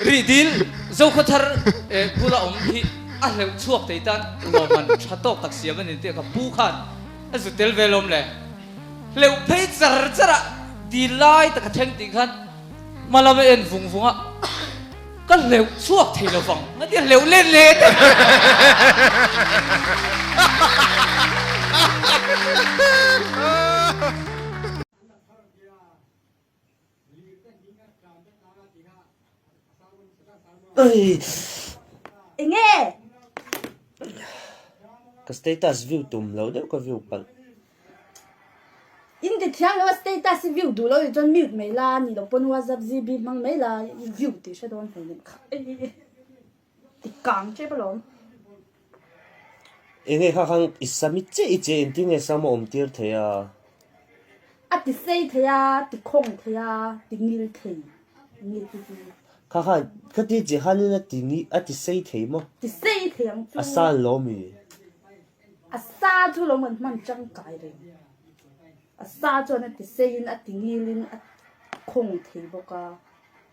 Rih dil, Zokhua thar eh bula awm hi a hleuh chhuak tei tan rual man tha tawk tak siam anin tih a ka pu khan a zu tel ve lawm le. Hleuh phei char char ah dil lai taka thleng tih khan hma lam a en vung vung a ka hleuh chhuak thei lo vang a nia hleuh len le teh. Ka status view tum lo deuh ka view palh. Inti thiam lo status i view duh lo ti chuan mute mai la ni lo pawn whatsapp gb hmang mai la i view tih hre dawn hmel em kha. I kang tep alawm. Enge kha khan i sa mi che i che in tinge sam a awm tir thei a. A ti sei thei a, ti khawng thei a, ti ngil thei nge chu chu. Kha khan ka ti che khan in a ti ngil a ti sei thei maw. Ti sei thei ang chu. A sa alawm i. A sa chu alawm kan hman tangkai reng. A sa chuan a ti sei in a ti ngil in a khawng thei bawk a.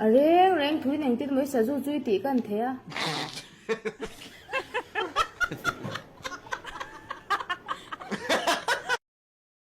A reng reng thui neng tin Mawisa zu chui tih ka an thei a.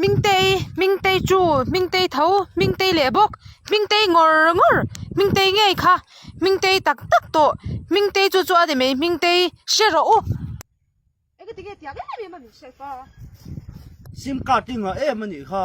Hmingtei, hmingtei chu, hmingtei tho, hmingtei leh bawk, hmingtei ngawrr ngawrr, hmingtei ngei kha, hmingtei tak tak tawh, hmingtei chu chu a ni mai, hmingtei hre rawh u. Enge tinge tiang em em a min hriat va. Sim card hi nghah em a nih kha.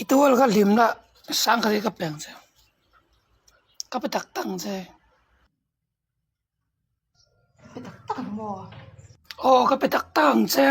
I tual ka hlim lah sang ka zia ka peng che ka pe tak tak che pe tak tak ang maw aw ka pe tak tak ang che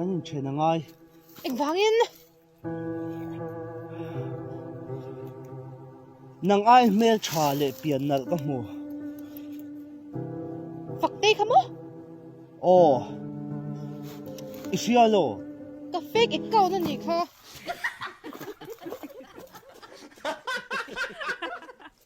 Kan inthen a ngai. Engvangin? Nang ai hmeltha leh pian nalh ka hmu. Faktei kha maw? Oh. I hria lo. Ka fake account a nih kha.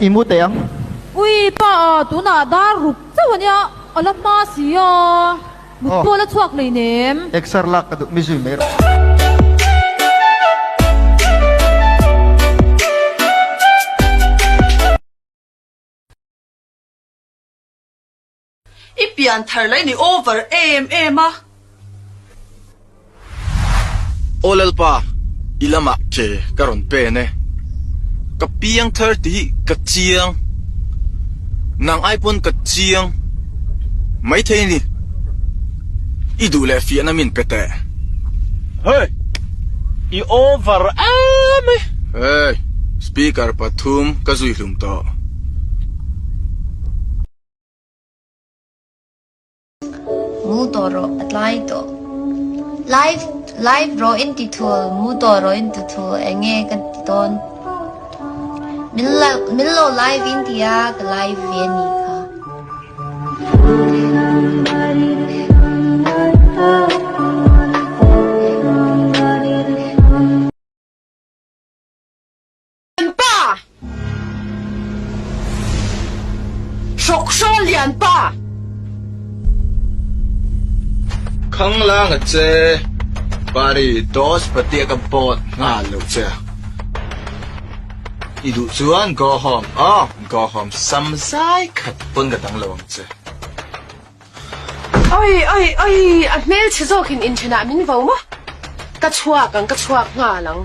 I mu teh ang. Ui pa a, tunah dar ruk chauh ania a la hma si a, mut pawl a chhuak hleinem. Exer lak ka duh mi zui mai rawh. I pian thar la i ni over em em a. Aw Lalpa, i lamah ke ka rawn pen e. Ka piang thar ti hi ka chiang. Nang ai pawn ka chiang. Maithei ni, i duh leh fiahna min pe teh. Hey! I over em e. Hey! Speaker pathum ka zui hlum tawh. Mu tawh rawh a tlai tawh. Live live rawh in ti thul mu tawh rawh in ti thul eng nge ka ti dawn. Min la min lo live in ti a ka live ve ani kha. Lian pa! Hrawkhrol lian pa! Khang lang a che, Pari Dos Patia ka bawt nghal lo che a. I duh chuan go home aw, go home sam zai khat pawn ka dang lo ang che. Awii, awii, awii, a hmelchhe zawkin inthenah min vo maw? Ka chhuak ang, ka chhuak nghal ang.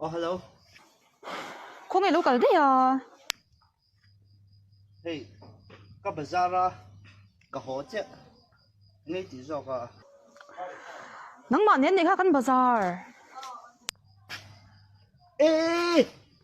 Oh hello. Kho nge lo kal daih a. Hey, ka bazar a ka haw che. Ngei ti zawk a. Nangmah nen nei kha kan bazar. Eh!